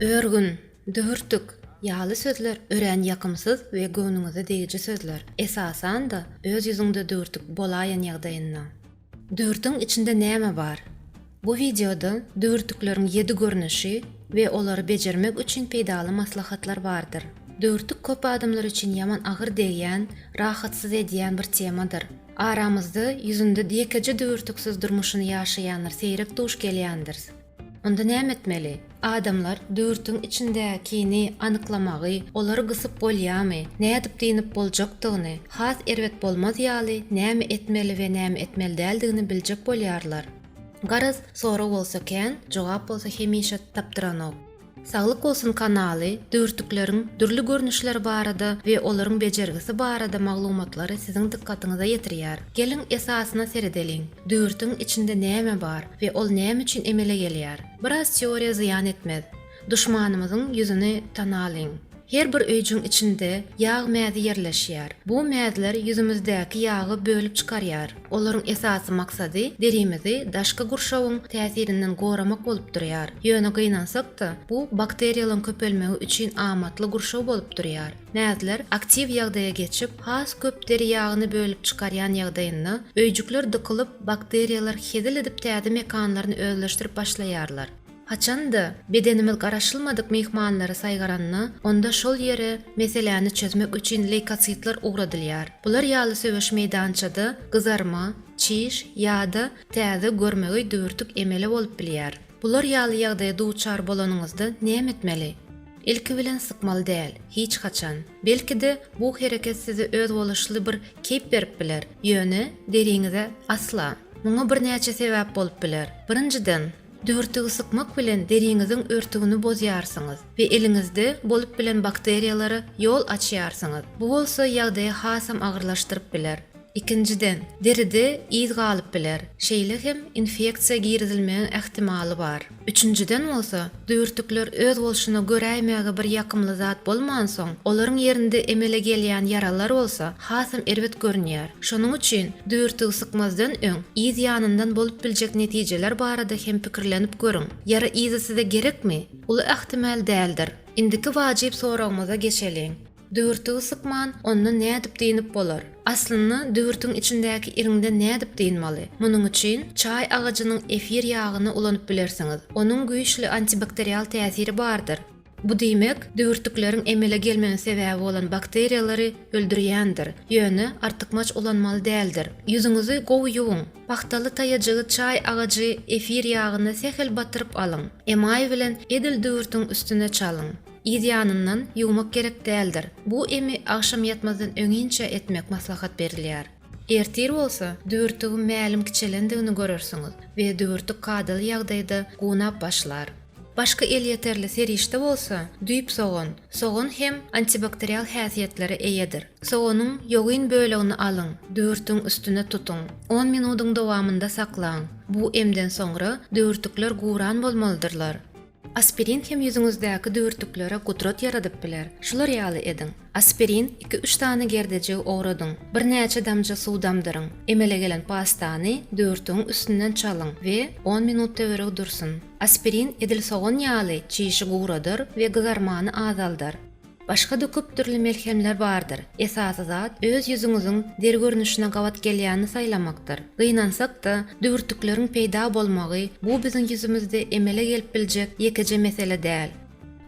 Örgün, dühürtik ýaly sözler örän ýakymsyz we göwnüňize degiji sözler, esasan-da, öz ýüzüňde dühürtik bolaýan ýagdaýynda. Dühürtigiň içinde näme bar? Bu wideoda dühürtikleriň ýedi görnüşi we olary bejermek üçin peýdaly maslahatlar bardyr. Dühürtik köp adamlar üçin ýaman agyr degýän, rahatsyz edýän bir temadyr. Aramyzda ýüzünde ýekeje düwürtiksiz durmuşyny ýaşaýanlar seýrek duş gelýändiris. Onda näme etmeli? Adamlar düwürtiň içindäkini anyklamagy, olary gysyp bolýamy, nädip dynyp boljakdygyny, has erbet bolmaz ýaly näme etmeli we näme etmeli däldigini biljek bolýarlar. Garaz, sorag bolsa kän, jogap bolsa hemişe tapdyranok. Saglyk bolsun kanaly dörtükleriň dürli görnüşleri barada we olaryň bejergisi barada maglumatlary siziň dykgatyňyza ýetirýär. Geliň esasyna seredeliň, dörtügiň içinde näme bar we ol näme üçin emele gelýär? Biraz teoriýa zyýan etmez. Duşmanymyzyň ýüzüni tanalyň. Her bir öýjüň içinde ýag mäzi ýerleşýär. Bu mäzler ýüzümizdäki ýagy bölüp çykarýar. Olaryň esasy maksady derimizi daşky gurşawyň täsirinden goramak bolup durýar. Ýöne gynansak-da, bu bakteriýalaryň köpelmegi üçin amatly gurşaw bolup durýar. Mäzler aktiw ýagdaýa geçip, has köp deri ýagyny bölüp çykarýan ýagdaýynda, öýjükler dykylyp, bakteriýalar hezil edip täze mekanlaryny özleşdirip başlaýarlar. Haçan-da, bedenimiz garaşylmadyk myhmanlary saýgaranda, onda şol ýere meseläni çözmek üçin leýkotsitler ugradylýar. Bular ýaly söweş meýdançada gyzarma, çiş ýa-da täze görmegeý düwürtik emele bolup bilýär. Bular ýaly ýagdaýa duçar bolanyňyzda näme etmeli? Ilki bilen sypmaly däl, hiç haçan. Belki-de, bu hereket size özboluşly bir keýp berip biler, ýöne deriňize asla. Muňa birnäçe sebäp bolup biler. Birinjiden, Düwürtigi sykmak bilen deriňiziň örtügini bozýarsyňyz we eliňizde bolup bilen bakteriýalara ýol açýarsyňyz, bu bolsa ýagdaýy hasam agyrlaşdyryp biler. Ikinjiden, deride yz galyp biler, şeýle hem infeksiýa girizilmegiň ähtimaly bar. Üçünjiden bolsa, düwürtikler özbolşuna göräýmäge bir ýakymly zat bolmansoň, olaryň ýerinde emele gelýän ýaralar bolsa, hasam erbet görünýär. Şonuň üçin düwürtigi sykmazdan öň, yz ýanyndan bolup biljek netijeler barada hem pikirlenip görüň. Ýara yzy size gerekmi? Uly ähtimal däldir. Indiki wajyp soragymyza geçeliň. Düwürtigi sykman, onda nädip dynip bolar? Aslynda, düwürtigiň içindäki iriňden nädip dynmaly? Munuň üçin çaý agajynyň efir ýagyny ulanyp bilersiňiz. Onuň güýçli antibakterial täsiri bardyr. Bu diýmek, düwürtikleriň emele gelmegine sebäbi bolan bakteriýalary öldürýändir. Ýöne artykmaç ulanmaly däldir. Ýüzüňizi gowy ýuwuň. Pagtaly taýajygy çaý agajy efir ýagyna sähel batyryp alyň. Emaý bilen edil düwürtiň üstüne çalyň. Yz ýanyndan ýuwmak gerek däldir. Bu emi agşam ýatmazdan öňinçä etmek maslahat berilýär. Ertir bolsa, düwürtigiň mälim kiçelendigini görersiňiz we düwürtik kadaly ýagdaýda gunap başlar. Başky elýeterli serişde bolsa, düýp sogan. Sogan hem antibakterial häsiýetlere eýedir. Soganyň ýogyn bölegini alyň, düwürtigiň üstüne tutuň. On minudyň dowamynda saklaň. Bu emden soňra düwürtikler guran bolmalydyrlar. Aspirin hem ýüzüňizdäki düwürtiklere gudrat ýaradyp biler. Şular ýaly ediň, Aspirin iki-üç sany gerdejigi owradyň. Birnäçe damja suw damdyryň. Emele gelen pastany düwürtigiň üstünden çalyň we on minut töweregi dursun. Aspirin edil sogan ýaly çişi guradar we gyzarmany azaldar. Başga-da köp dürli melhemler bardyr. Esasy zat öz ýüzüňiziň deri görnüşine gabat gelýänini saýlamakdyr. Gynansak-da, düwürtikleriň peýda bolmagy bu biziň ýüzümizde emele gelip biljek ýekeje mesele däl.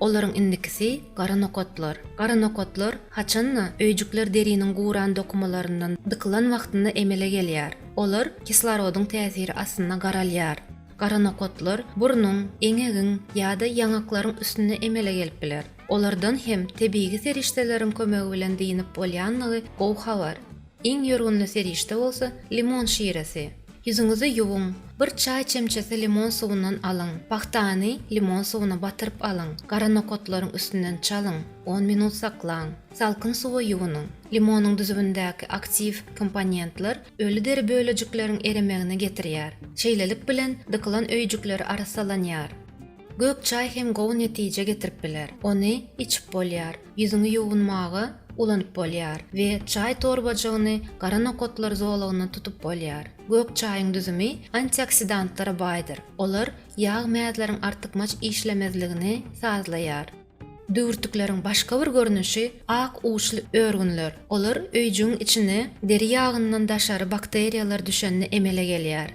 Olaryň indikisi gara nokatlar. Gara nokatlar, haçan-da, öýjükler deriniň guran dokumalaryndan dykylan wagtynda emele gelýär. Olar kislorodyň täsiri astynda garalýar. Gara nokatlar burnuň, eňegiň ýa-da ýaňaklaryň üstünde emele gelip biler. Olardan hem tebigy serişdeleriň kömegi bilen dynyp bolýandygy gowy habar. Iň ýörgünli serişde bolsa limon şiresi. Ýüzüňizi ýuwuň, bir çaý çemçesi limon suwundan alyň, pagtany limon suwuna batyryp alyň, gara nokatlaryň üstünden çalyň, on minut saklaň. Salkyn suwa ýuwunyň. Limonyň düzümindäki aktiw komponentler öli deri bölejikleriň eremegine getirýär. Şeýlelik bilen dykylan öýjükleri arassalanýar. Gök çaý hem gowy netije getirip biler. Ony içip bolýar, ýüzüňi ýuwunmaga ulanyp bolýar we çaý torbajygyny gara nokatlar zolagyndan tutup bolýar. Gök çaýyň düzümi antioksidantlara baýdyr. Olar ýag mäzleriň artykmaç işlemezligini sazlaýar. Düwürtikleriň başga bir görnüşi ak uçly örgünler. Olar öýjügiň içine deri ýagyndan daşary bakteriýalar düşende emele gelýär.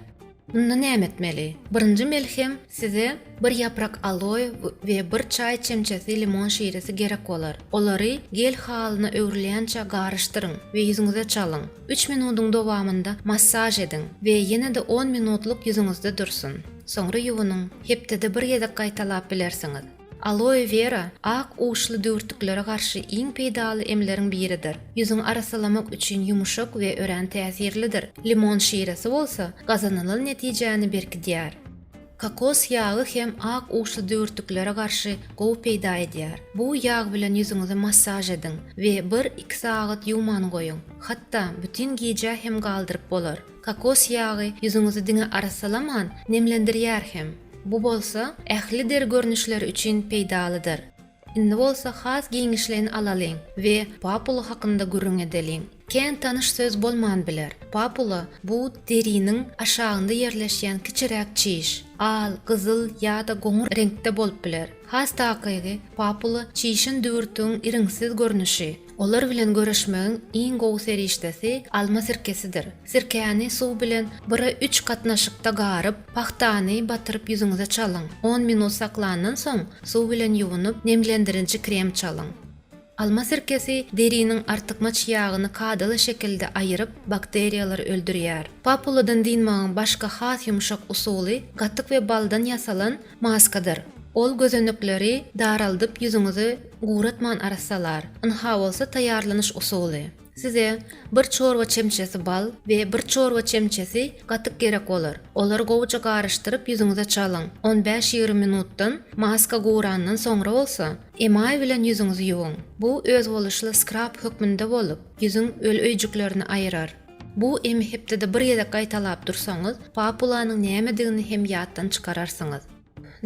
Indi näme etmeli? Birinji melhem, size bir ýaprak aloe we bir çaý çemçesi limon şiresi gerek bolar. Olary gel halyna öwrülýänçä garyşdyryň we ýüzüňize çalyň. Üç minudyň dowamynda massaž ediň we ýene-de on minutlyk ýüzüňizde dursun. Soňra ýuwunyň. Hepdede bir gezek gaýtalap bilersiňiz. Aloe vera ak uçly düwürtliklere garşy iň peýdaly emleriň biridir. Ýüzüňi arassalamak üçin ýumuşak we örän täsirlidir. Limon şiresi bolsa gazanylan netijäni berkidýär. Kokos ýagy hem ak uçly düwürtliklere garşy gowy peýda edýär. Bu ýag bilen ýüzüňizi massaž ediň we bir-iki sagat ýuwman goýuň. Hatda bütin gijä hem galdyryp bolar. Kokos ýagy ýüzüňizi diňe arassalaman, nemlendirýär hem. Bu bolsa ähli deri görnüşleri üçin peýdalydyr. Indi bolsa has giňişleýin alalyň we papula hakynda gürrüň edeliň. Kän tanyş söz bolman biler. Papula, bu deriniň aşagynda ýerleşýän kiçiräk çiş. Al, gyzyl ýa-da goňur reňkde bolup biler. Has takygy, papula çişin düwürtigiň iriňsiz görnüşi. Olar bilen göreşmegiň iň gowy serişdesi alma sirkesidir. Sirkäni suw bilen bire üç gatnaşykda garyp, pagtany batyryp ýüzüňize çalyň. On minut saklandan soň, suw bilen ýuwunyp, nemlendirinji krem çalyň. Alma sirkesi deriniň artykmaç ýagyny kadaly şekilde aýyryp, bakteriýalary öldürýär. Papuladan dynmagyň başga has ýumşak usuly, gatyk we baldan ýasalan, Maskadyr. Ol gözenekleri daraldyp ýüzüňizi guratman arassalar. Ynha bolsa taýýarlanyş usuly. Size bir çorba çemçesi bal we bir çorba çemçesi gatyk gerek bolar. Olary gowuja garyşdyryp ýüzüňize çalyň. On bäş-ýigrimi minutdan, maska gurandan soňra bolsa, emaý bilen ýüzüňizi ýuwuň. Bu özboluşly skrap hökmünde bolup, ýüzüň öli öýjüklerini aýrar. Bu emi hepdede bir gezek gaýtalap dursaňyz, papulanyň nämedigini hem ýatdan çykararsyňyz.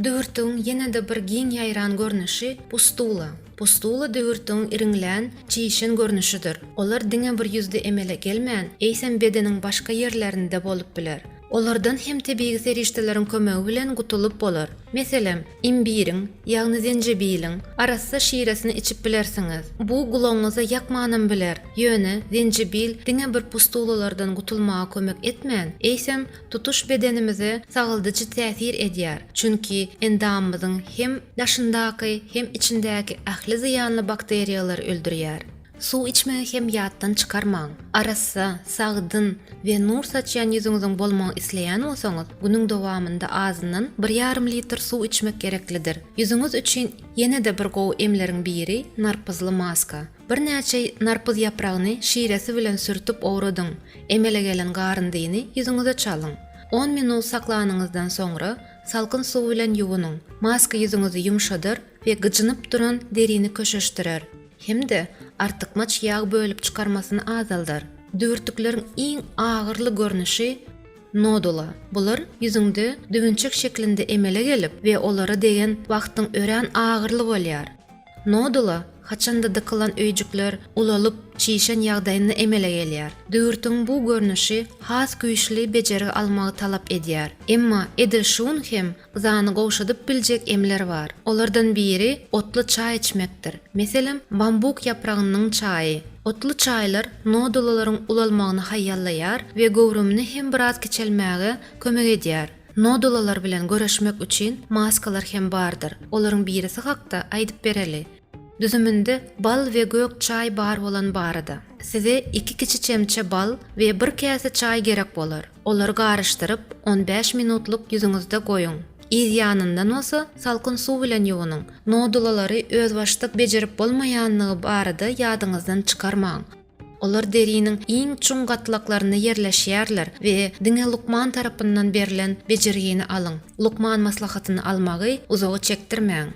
Düwürtigiň ýene-de bir giň ýaýran görnüşi pustula. Pustula düwürtigiň iriňlän, çişen görnüşidir. Olar diňe bir ýüzde emele gelmän, eýsem bedeniň başga ýerlerinde bolup biler. Olardan hem tebigy serişdeleriň kömegi bilen gutulyp bolar. Meselem, Imbiriň, ýagny zenjebiliň, arassa şiresini içip bilersiňiz. Bu gulagyňyza ýakmanam biler, ýöne zenjebil diňe bir pustulalardan gutulmaga kömek etmän, eýsem, tutuş bedenimize sagaldyjy täsir edýär, çünki endamymyzyň hem daşyndaky, hem içindäki ähli zyýanly bakteriýalary öldürýär. Suw içmegi hem ýatdan çykarmaň! Arassa, sagdyn we nur saçýan ýüzüňiziň bolmagyny isleýän bolsaňyz, günüň dowamynda azyndan bir ýarym litr suw içmek gereklidir. Ýüzüňiz üçin ýene-de bir gowy emleriň biri narpyzly maska. Birnäçe narpyz ýapragyny şiresi bilen sürtüp owradyň. Emele gelen garyndyny ýüzüňize çalyň. On minut saklanyňyzdan soňra, salkyn suw bilen ýuwunyň. Maska ýüzüňizi ýumşadar we gyjynyp duran derini köşeşdirer. hem-de artykmaç ýag bölüp çykarmasyny azaldar. Düwürtikleriň iň agyrly görnüşi nodula. Bular ýüzüňde düwünçek şeklinde emele gelip we olara degen wagtyň örän agyrly bolýar. Nodula haçanda dykylan öýjükler ulalyp, çişen ýagdaýynda emele gelýär. Düwürtigiň bu görnüşi has güýçli bejergi almagy talap edýär. Emma edil şu gün hem Yzany gowşadyp biljek emler bar. Olardan biri otly çaý içmekdir. Meselem, bambuk ýapragynynyň çaýy. Otly çaýlar nodulalaryň ulalmagyny haýallaýar we göwrümini hem biraz kiçelmäge kömek edýär. Nodulalar bilen göreşmek üçin maskalar hem bardyr. Olaryň birisi hakda aýdyp bereli. Düzüminde bal we gök çaý bar bolan barada. Size iki kiçi çemçe bal we bir käse çaý gerek bolar. Olary garyşdyryp, on bäş minutlyk ýüzüňizde goýuň. Yz ýanyndan bolsa salkyn suw bilen ýuwunyň. Nodulalary özbaşdak bejerip bolmaýandygy barada ýadyňyzdan çykarmaň. Olar deriniň iň çuň gatlaklarynda ýerleşýärler we diňe lukman tarapyndan berlen bejergini alyň. Lukman maslahatyny almagy uzaga çekdirmäň.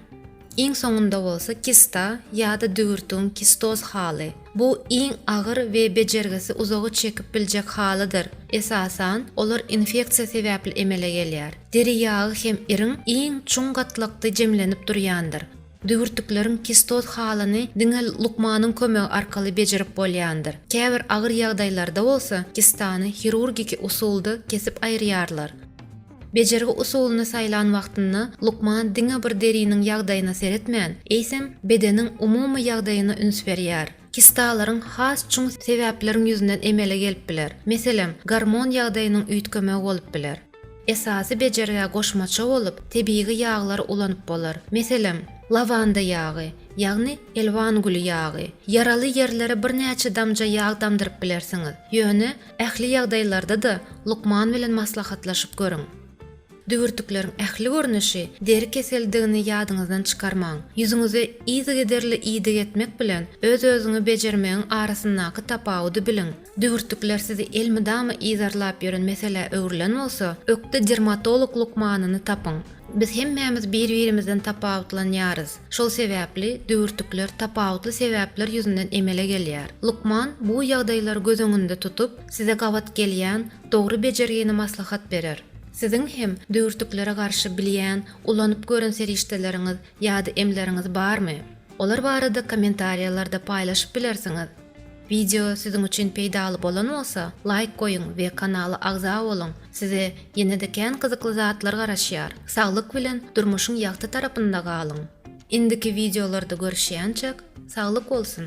Iň soňunda bolsa kista ýa-da düwürtigiň kistoz haly. Bu iň agyr we bejergisi uzaga çekip biljek halydyr. Esasan, olar infeksiýa sebäpli emele gelýär. Deri ýagy hem iriň iň çuň gatlakdy jemlenip durýandyr. Düwürtikleriň kistoz halyny diňe lukmanyň kömegi arkaly bejerip bolýandyr. Käbir agyr ýagdaýlarda bolsa kistany hirurgiki usulda kesip aýyrýarlar. Bejergi usulyny saýlan wagtynda lukman diňe bir deriniň ýagdaýyna seretmän, eýsem, bedeniň umumy ýagdaýyna üns berýär. Kistalaryň has çuň sebäpleriň ýüzünden emele gelip biler, meselem, gormon ýagdaýynyň üýtgemegi bolup biler. Esasy bejergä goşmaça bolup, tebigy ýaglary ulanyp bolar, meselem, lawanda ýagy, ýagny elwan güli ýagy. Ýaraly ýerlere birnäçe damja ýag damdyryp bilersiňiz, ýöne Ähli ýagdaýlarda-da lukman bilen maslahatlaşyp görüň. Düwürtikleriň ähli görnüşi deri keseldigini ýadyňyzdan çykarmaň. Ýüzüňize yzygiderli iýdik etmek bilen öz-özüňi bejermegiň arasyndaky tapawudy biliň. Düwürtikler sizi elmydama yzarlap ýören meselä öwrülen bolsa, ökde dermatolog lukmanyny tapyň. Biz hemmämiz bir-birimizden tapawutlanýarys. Şol sebäpli düwürtikler tapawutly sebäpler ýüzünden emele gelýär. Lukman bu ýagdaýlary göz öňünde tutup, size gabat gelýän dogry bejergini maslahat berer. Siziň hem düwürtiklere garşy bilýän, ulanyp gören serişdeleriňiz ýa-da emleriňiz barmy? Olar barada kommentariýalarda paýlaşyp bilersiňiz. Wideo siziň üçin peýdaly bolan bolsa laýk goýuň we kanala agza boluň size ýenede kän gyzykly zatlar garaşýar saglyk bilen durmuşyň ýagty tarapynda galyň indiki wideolarda görüşýänçek saglyk bolsun.